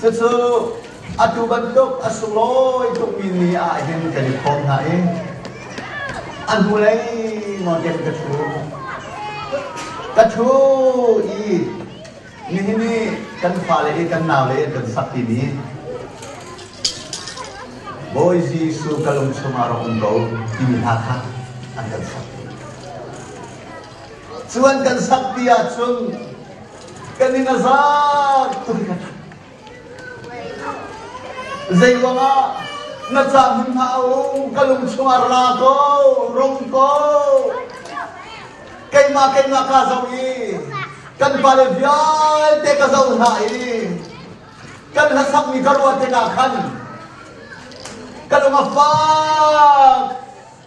Cucu atu bantuk a sunglawi tukmi ni ah hin kan i phawm hna i a hnulei ngawngkeng ka ṭhu. Ka ṭhu i nihin i kan fale i kan naule kan sakmi ni Bawi Jesuh ka lung chungah rak um ko timi hla kha an kan sak. Cu an kan sakti ahcun Kan in a zat tuk. Zeiruangah na ca hmun hna a um ka lung chungah ra ko rung ko keimah keimah ka zo i kan pale vialte ka zo hna i kan hlasakmi ka ruah tikah khan ka lung a fak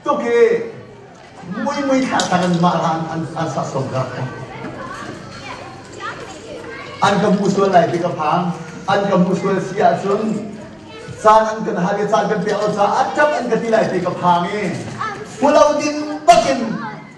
tuk i muimui kha tangin mah hla an saksawm ka. An ka hmu sual lai ti ka phang. An ka hmu sual si ahcun caan an kan hal i caan kan pek lo caah a ṭap an ka ti lai ti ka phang i fulo ding bakin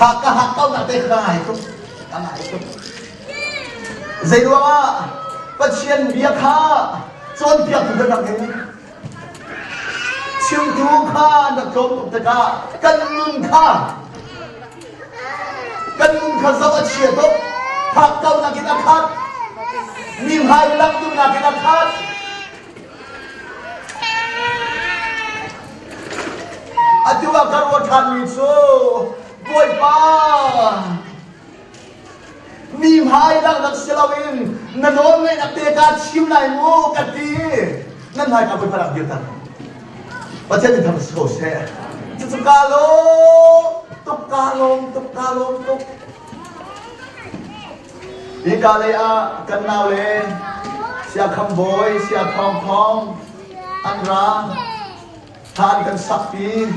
Hak ka hak ko na te ka ngai tuk ka ngai tuk zei ruangah Pathian bia kha cawnpiak tu kan rak in chimtu kha na tlawm tuk tikah kan nun kha kan nun kha zoh a chia tuk phak kaunak in a khat mi hmai lak duhnak in a khat Atu ah ka ruah ṭhanmi cu Bawipa mi hmai langhnak si loin na nawlngaihnak te ka chim lai mu ka ti nan hmai ka Bawipa rak dir tak Pathian in thang si ko seh cucu ka lawm tuk ka lawm tuk ka lawm tuk Hika lei ah kan naule Siakham Bawi, Sia Thawng Thawng an ra. Thlan kan sakpi.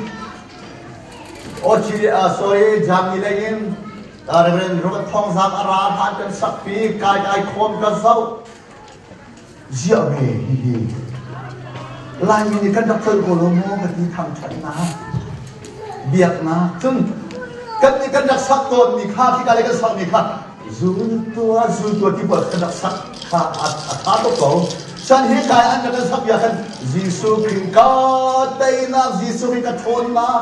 Ochi, uh, sorry, Jamni lei in uh, Reverend Robert Thawng Zang a ra. Thlan kan sakpi. Kai kai khawm kan zoh. ziah ve hihi. Laimi nih kan rak tlolh ko lo maw ka ti thangṭhatnak, biaknak. Cun kan nih kan rak sak tawnmi kha, khika le kan sakmi kha zultua zultua tibuat kan rak sak kha a ṭha tuk ko. Chan hi kai an kan sak bia khan Jesuh Khrih ka teinak Jesuh hi ka ṭhawnnak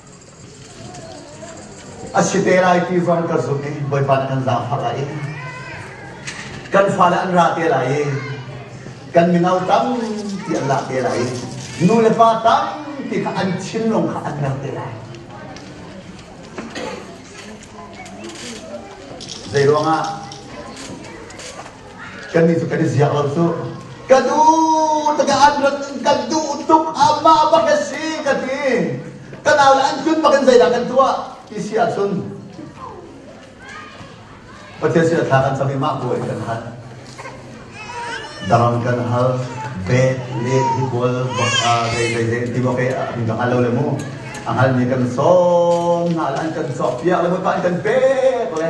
A si te lai ti zong ka zumh i Bawipa kan zaangfak ah in kan fale an ra te lai i kan mino tampi an lah te lai i nu le pa tampi kha an thinlung kha an mer te lai. Zei ruangah Kannih cu kan i ziak lo cu. Ka nu takah an rat in kan duh tuk amah bak a si ka ti. Ka nau le an hlun bak in zeidah kan tuah ti si ahcun Pathian sin thla kan cam i mah buai kan hal. Daram kan hal, beh, le, hikual, baka, zei zei zei ti maw ke a kan hal lo le mu. A halmi kan sawm hna le an kan cawk piak le mu pa an kan pek le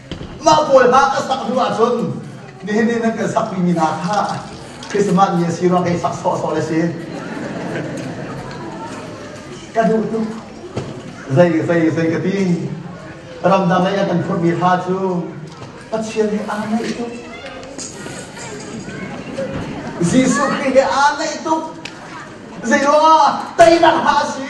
Mah pawl hna ka sak hnu ahcun nihin ni nan kan sakmi mi hna kha Christmas ni a si rua kei sak sawhsawh le si. Ka duh tuk. Zei zei zei ka ti. Ramdang lei a kan phurmi hla cu Pathian he aa naih tuk. Jesuh Khrih he aa naih tuk. Zei rua teinak hna a si.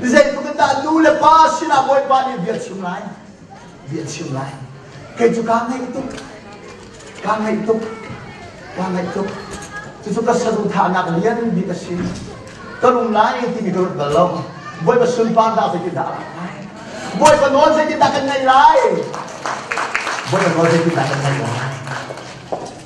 Zeitluk in dah nu le pa sinah Bawipa nih bia chim lai. Bia chim lai. Kei cu kaa ngaih tuk. Kaa ngaih tuk. Kaa ngaih tuk. Cucu ka saduhthahnak lian bik a si. Ka lum lai timi ka ruat bal lo. Bawipa sunparnak zeitindah a lang lai? Bawipa nawl zeitindah kan ngaih lai? Bawipa nawl zeitindah kan ngaih lai?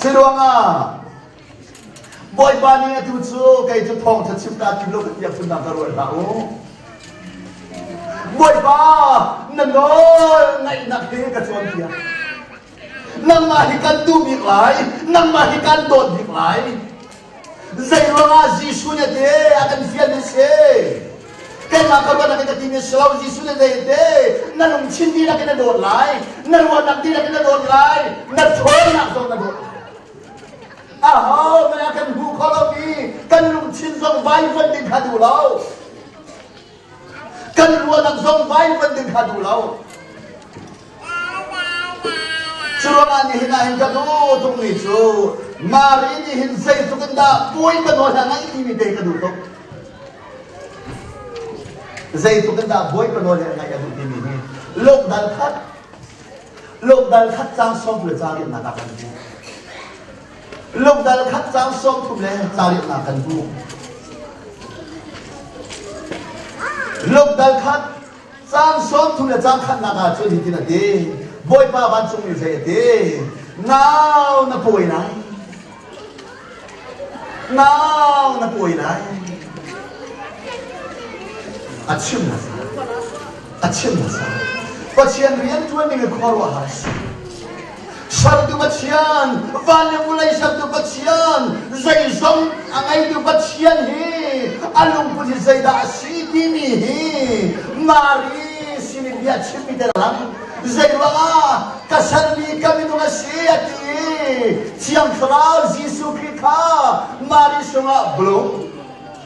Siluangah Bawipa nih atu cu kei cu thawngṭha chim ta kim lo ka tiang phunnak ka ruat hlah u. Bawipa na nawl ngaihnak he ka cawnpiak. Nangmah hi kan duh bik lai, nangmah hi kan dawt bik lai. Zei ruangah Jesuh nih te a kan fial mi si? Keimah ka ruahnak in ka timi si lo. Jesuh nih zei te na lungthin dihlak in na dawt lai, na ruahnak dihlak in na dawt lai, na ṭhawnnak zong na dawt lai. A ho mei ah kan hmuh khawh lomi kan lungthin zong vaivuan ding kha duh lo. Kan ruahnak zong vaivanh ding kha duh lo. Curuangah nihin ah hin ka daw tukmi cu Mari nih hin zeitluk in dah puai ka nawl hna ngai timi te ka duh tuk. Zeitluk in dah bawi ka nawl he ngaih a duh timi hi lokdal khat lokdal khat cang sawm le ca riannak ah kan ti. Lungdal khat caang sawmthum le caariahnak kan hmu. Lungdal khat caang sawmthum le caang khatnak ah cun hitin a ti. Bawipa vancungmi zei a ti? Nau na pawi lai. Nau na pawi lai. A chim na sa. A chim na sa. Pathian rian ṭuan ding i khuaruahhar si. sertu Pathian van le vulei sertu Pathian zeizong a ngeitu Pathian hi a lungput hi zeidah a si timi hi Mari sin i bia chimmi te lang zeiruangah ka sermi ka minung a si a ti i Thiang Thlarau Jesuh Khrih kha Mari sungah blum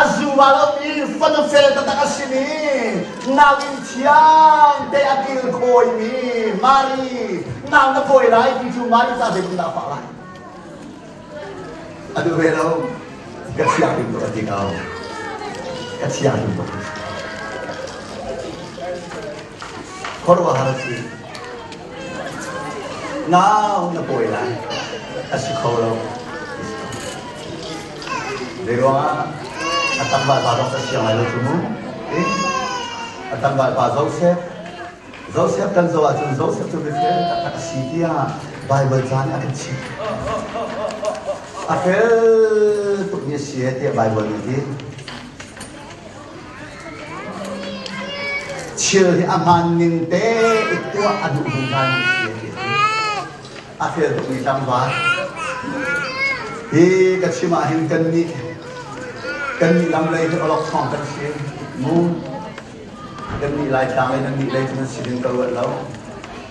A zuvalmi fanafel taktak a simi nauinn thiang te a kil khawimi Mari nau na fawi lai ti cu Mari ca zeitin dah a fah lai a duh ve lo ka chia him ka ti ko ka chia him ka khuaruahhar a si. Nau na pawi lai. A si kho lo. Zei ruangah a tangval pa zong a siang lai lo cu mu. A tangval pa Joseph Joseph kan zoh ahcun Joseph cu mifel taktak a si tiah Baibal caan nih a kan chimh. A fel tukmi a si tiah Baibal nih ti. Thil hi a hmaan ning te i tuah a duh zungzal mi si a ti. A fel tukmi tlangval. Hi ka chim ah hin kan nih kan nih lam lei hi awlok thawng kan si mu kan nih laitlang lei nan nih lei cu nan si hin ka ruat lo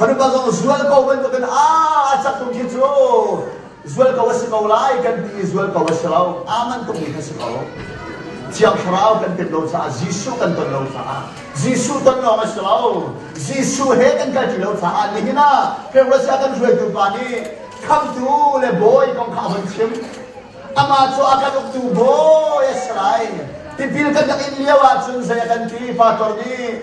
Fanupa zong zual ko bantukin aa cak tung khi cu zual ko a si ko lai kan ti i zual ko a si lo aman tuk mi kan si ko thiang thlarau kan pet lo caah Jesuh kan ton lo caah Jesuh ton lawng a si lo Jesuh he kan kal ṭi lo caah nihin ah Russia kan hruaitu pa nih khamtu le bawi kong kha a von chim amah cu a kan uktu bawi a si lai tipil kan rak in lio ahcun zei a kan ti pastor nih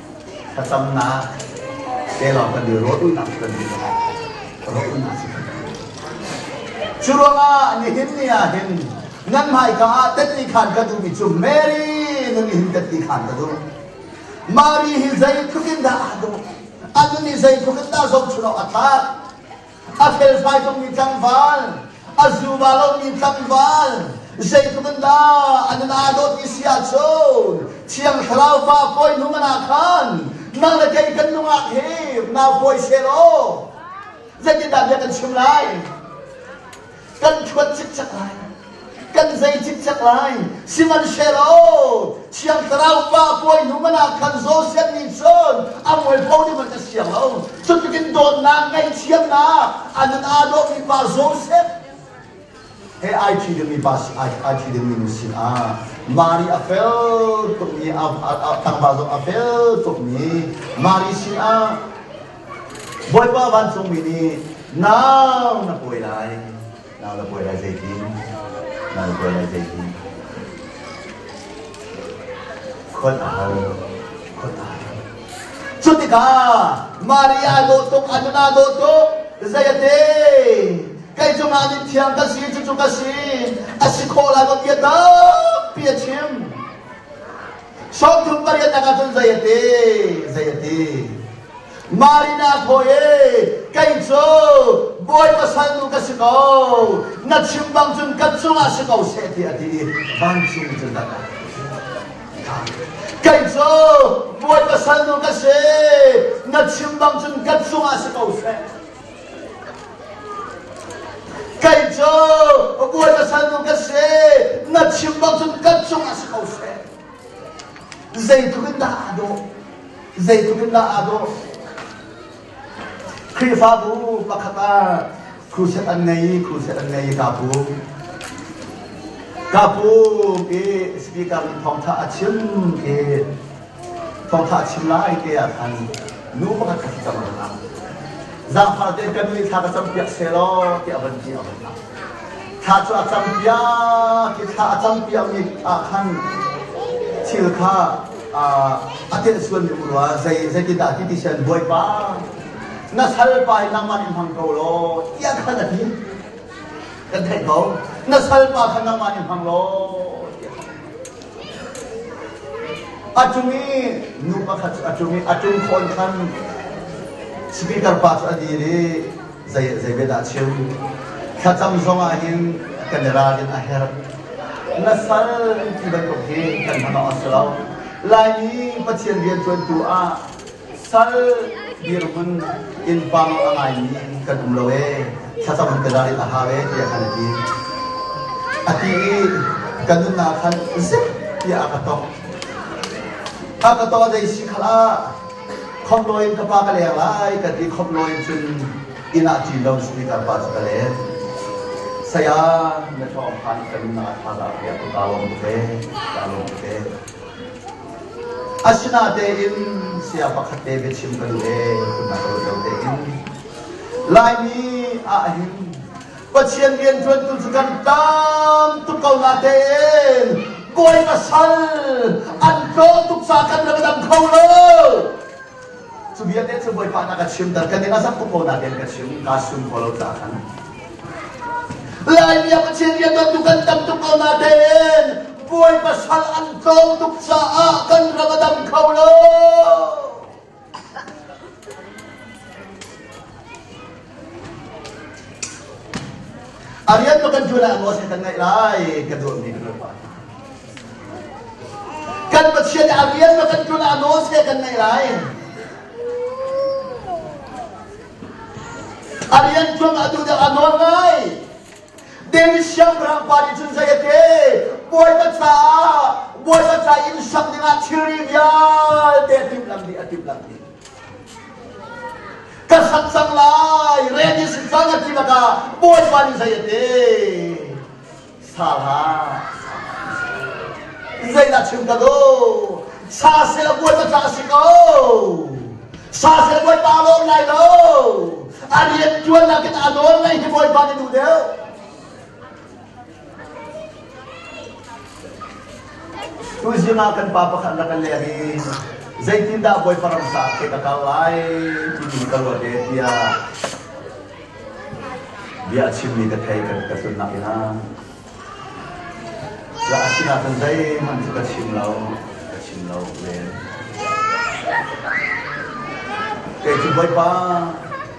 Thlacamnak te lawng kan i rawhrulnak cu kan duh lo. Rawhrulnak cu kan duh Cu ruangah nihin ni ah hin nan hmaika ah tatni khan ka duhmi cu Mary nun hin tatni khan ka duh. Mari hi zeitluk in dah aa duh, a nun hi zeitluk in dah zohchunh awk a tlak. a felfai tukmi tlangval, a zu va lomi tlangval, zeitluk in dah an in aa dawt ti si ahcun Thiang Thlarau Pa pawi hnu ngan ah khan nang le kei kan nungak hi nau pawi se law zeitindah bia kan chim lai? kan phuan cikcek lai kan zei cikcek lai sihmanhsehlaw thiang thlarau pa puai hnu man ah khan Joseph nih cun a mual pho ding an ka siang lo cutukin dawtnak ngaihthiamnak a nun aa dawhmi pa Joseph he ai thi dingmi pa si ai ai thi dingmi nu sin ah Mari a fel tukmi a a tlangval zong a fel tukmi Mari sin ah Bawipa vancungmi nih nau na pawi lai, nau na pawi lai zeitin? Nau na pawi lai zeitin? Khon a har, khon a har. Cu tikah Maria dawh tuk, Anna dawh tuk, zeiate? Kei cungah nih thiang kan si, cucu ka si, a si khawh lai va bia tampi a chim. Sawmthum pariat tak ahcun zei a ti? Zei a ti? Marina thawi e, kei cu Bawipa salnu ka si ko. Na chim bang cun kan cungah si ko seh ti a ti i vancung cun a dah. Kei cu Bawipa salnu ka si. Na chim bang cun kan cungah si ko seh. Kei cu a bawi salnu ka si na chim bak cun kan cungah si ko she zeitluk in dah aa dawh zeitluk in dah aa dawh Khrihfabu pakhat ah crusade an ngei crusade an ngei kapu kapu ke speaker nih thawngtha a chim ke Thawngṭha chim la ai te ah khan nu pakhat ka si cang rengah zaangfah te kan nih thla ka campiak selaw tiah a van ti a van thlah thla cu a campiak i thla a campiakmi ah khan thil kha a telsuan ding rua zei zeitindah ti ti sian bawipa na salpa hi nangmah in hmang ko law tiah khan a ti kan theih ko na salpa kha nangmah in hmang law A cung i nu pakhat cu a cung i a ṭum fawn khan speaker pa cu a dir i zei zei be dah a chim thlacam zongah hin kan i ralrin a herh na sal ti bantuk hi kan hman awk a si lo laimi pathian rianṭuantu ah Sal dirhmun innpang a ngaimi kan um lo ee, thlacam kan ra a hau ee tiah kan ti. A ti i kan nunnak khan zip tiah a ka tong. A ka tong a si khala khom loin ka pa ka leng lai ka ti khom loin cun inn ah ṭin lo speaker pa cu ka let. Saya na ṭawng khan ka nunnak a tha da ya ku ka lawm te, ka lawm te. Asinatein saya pakhat te biachim kan le kunnak lotlo tein Laimi ahhin Pathian rianṭuantu cu kan tam tuk ko natein puai pasal an tlawm tuk ca kan rak dang kho lo. Cu vialte cu Bawipa na ka chimter ka ning a zam tuk ko nain ka chim kaa sum kho lo caah khan. Lai biakachia riantuan tu kan tam tuk ko nain puai pasal an tlawm tuk caah kan ram a dam kho lo. Arian lo kan cuan ah ngol kan ngaih lai kan duh mi kan pa. Kan Pathian nih arian lo kan cuan ah nawl se kan ngaih lai. Arian cuan ah tu dang anol ngai. David siangpahrang pa nih cun zei ate bawipa ca bawipa ca in sam dingah thilri vialte timh lam di a timh lam di Ka khat cang lai red in sin cang a ti lakah Bawipa nih zei a te sal ha zeidah chim ka duh sa sela Bawipa ca a si ko sa sela Bawipa lawm lai lo a rian ṭuan nakin a nawl ngaih hi Bawipa nih duh deuh Tuzing ah kan pa pakhat rak kan leh i zeitindah Bawipa ramsa ke ka kal lai timi ka ruat e tiah bia chimmi ka thei kan ka sunnak in a sinah khan zeihmanh cu ka chim lo ka chim lo ven kei cu Bawipa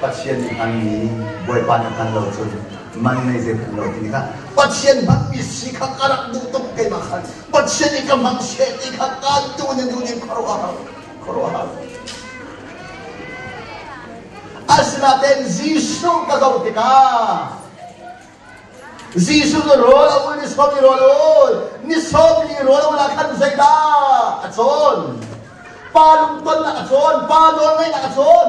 Pathian nih hmanmi Bawipa na hngal lo cun man ngei zei hmanh lo ti kha Pathian hmanmi si kha ka rak duh tuk keimah kha Pathian i ka hmang seh ti kha kantu nih duh in khuaruahhar khuaruahhar asinain Jesuh ka zoh tikah Jesuh cu rawl a ul ni sawm i rawl a ul ni sawm li rawl a ul ah khan zeidah a cawn pa lungtonnak a cawn pa nawlngaihnak a cawn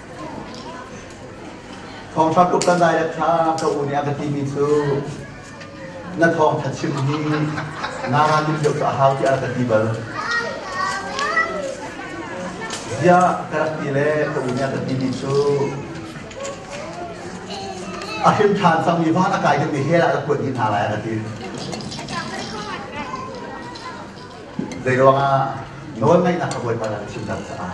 Thawngṭha tluk kan dai le ṭha ka u nih a ka timi cu na thawngṭha chim hi naa nim deuh cu a hau tiah a ka ti bal. Bia ka rak ti le ka u nih a ka timi cu a hrim ṭhan cangmi van a kai dingmi hell ah ka kuat dih hna lai a ka ti. Zeiruangah nawl ngaihnak ka bawipa na chim cang caah.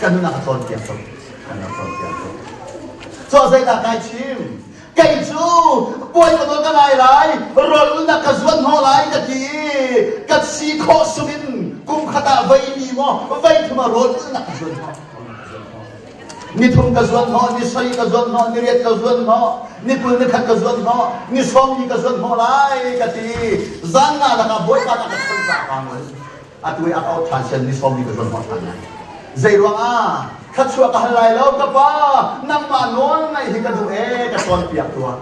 Kan nunah ka cawnpiak ko. Kan rak cawnpiak ko. Cuah zeidah kai chim? Kei cu puai ka ton ka lai lai, rawlulnak ka zuan hnawh lai ka ti i ka si khawh sungin kum khat ah vei ni maw, vei thum ah rawlulnak ka zuan hnawh. Nithum ka zuan hnawh, ni soi ka zuan hnawh, ni riat ka zuan hnawh, ni kul ni khat ka zuan hnawh, ni sawm ni ka zuan hnawh lai ka ti. Zan nga lakah Bawipa na ka chanh cang lai. atu i a kau ṭhan sian mi sawm hi ka zuan hmang ṭhan lai. Zei ruangah thluachuah ka hal lai lo ka pa nangmah nawl ngaih hi ka duh e ka cawnpiak tuah.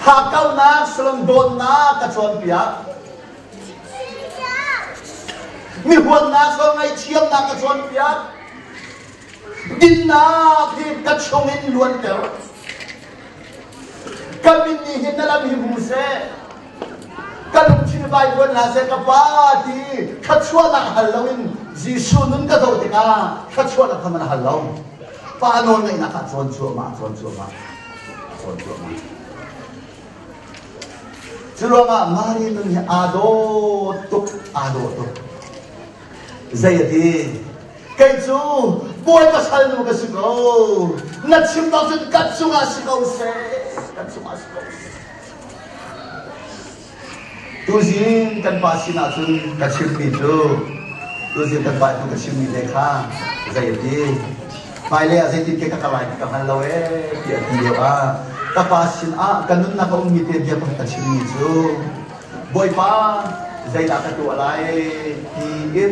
Hakkaunak sulung dawtnak ka cawnpiak. Mihuatnak sul ngaih thiamnak ka cawnpiak. Dinnak hi ka chung in luanter. Ka min nih hin na lam hi hmu seh. Ka lungthin vai luan hna seh ka pa ti thluachuahnak hal lo in Jesuh nun ka zoh tikah thluachuahnak kha man hal lo. Pa nawl ngaihnak ah cawn cuahmah, cawn cuahmah, cawn cuahmah. Cu ruangah Mari nun hi aa dawt tuk, aa dawt tuk. Zei ati? kei cu puai pasal nu ka si ko na chim lo cun kan cungah si ko seh kan cungah si ko seh tuzin kan pa sinah cun ka chimmi cu tuzin kan pa hnu ka chimmi le kha zei a ti hmailei ah zeitin ke ka kal lai ka hngal lo ee ti a ti lio ah ka pa sin ah ka nunnak a ummi te bia ka chimmi cu bawipa zeidah ka tuah lai ti in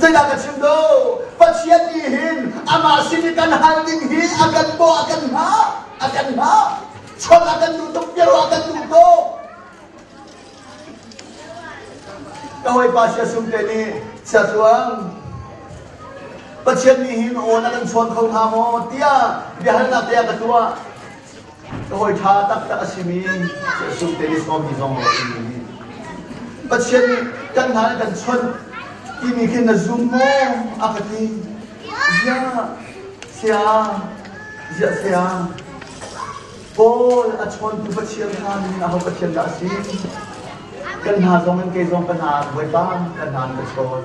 Zeidah ka chim do? Pathian nih hin amah sin i kan hal ding hi a kan bawh, a kan hngah, a kan hngah. Chawnh a kan duh tuk, biaruah a kan duh ko. Ka hawipa Sia Sumte nih, Sia Tluang, Pathian nih hin awn a kan chawn kho hnga maw? tiah biahalnak te a ka tuah. Ka hawi ṭha taktak a simi Jesuh Tenisong mi zong nih timi hi Pathian nih kan hna in kan chawnh timi khi na zum maw a ka ti. Ziah sia ziah sia Paul a chawntu Pathian hna nih aho Pathian dah a si? Kan hna zong in kei zong ka hna Bawipa kan hna in ka chawn.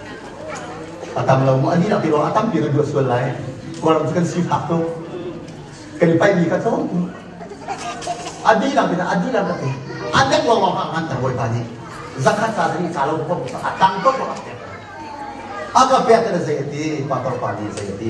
A tam lo maw? A dinak tiruang a tampi kan duah sual lai. Kawlram cu kan sifak tuk. Kan i paihmi kha tlawm. A dinak tinak a dinak tinak a dek lawngawng hang han kan bawipa nih zakhat ca ni ca lo ko a tang ko a pek a ka pek na zei a ti pa pa nih zei a ti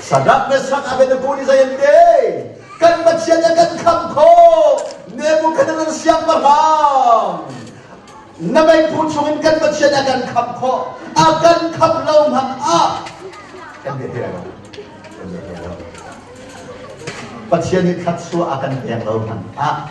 Sadak le sak Abednego nih zei an ti? Kan Pathian a kan khamh khawh Nebuchadnezzar siangpahrang na meiphu chungin kan Pathian a kan khamh khawh a kan khamh lo hmanh ah kan bia hei lo kan bia hei lo Pathian nih khat suah a kan pek lo hmanh ah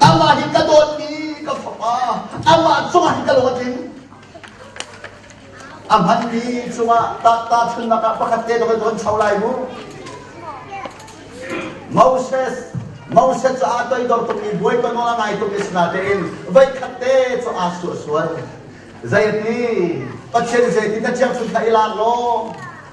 Amah nih ka dawtmi ka fapa amah cungah hin ka lung a tling. A hmanmi cungah tahta thunnak ah pakhat te loin kan cho lai mu. Moses Moses cu aa toidor tukmi buai ton awng a ngai tukmi sinatein voi khat te cu aa sual sual. Zeiti Pathian zeiti na thiang cu kha i lak law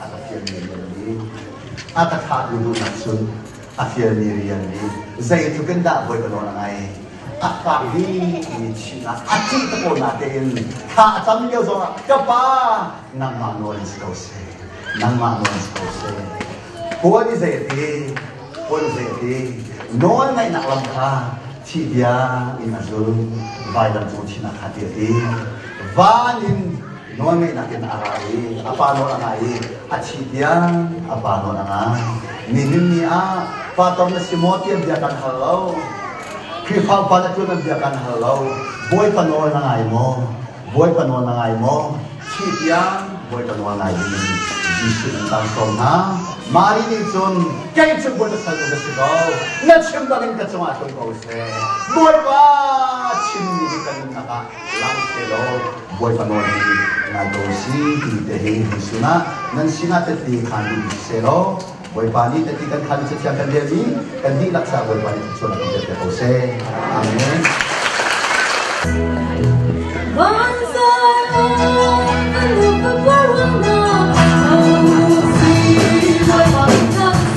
a ka fialmi rian nih a ka thlahmi runak cun a fialmi rian nih zeitluk in dah voi palawn a ngai a fak bikmi chin ah a ṭih tapawl na tein thla a cam lio zongah ka pa nangmah nawl in si ko seh nangmah nawl in si ko seh puan i zeiti puan i zeiti nawl ngaihnak lam kha thih bia in a zul vaidam cung chinah kha ti a ti van in nawl ngeihnak in a ra i a pa nawl a ngah i a thi tiang a pa nawl a ngah nihin ni ah pa tom na si maw tian bia kan hal lo Khrihfa upa le tun an bia kan hal lo bawipa nawl na ngai maw bawipa nawl na ngai maw thi tiang bawipa nawl ngai ding Jesuh in kan sawm hna mari nih cun kei cu bawipa salnu ka si ko na chim bangin ka cungah tlung ko seh bawipa chimmi hi kan nunnak ah Sihmanhsehlaw Bawipa nawl hi ngai ko u si timi tehte in kan sunah nan sinah tehte khan um sisehlaw Bawipa nih tehte kan khan i cathiang kan relmi kan dihlak caah Bawipa nih thluachuah kan pek ko seh. Amen.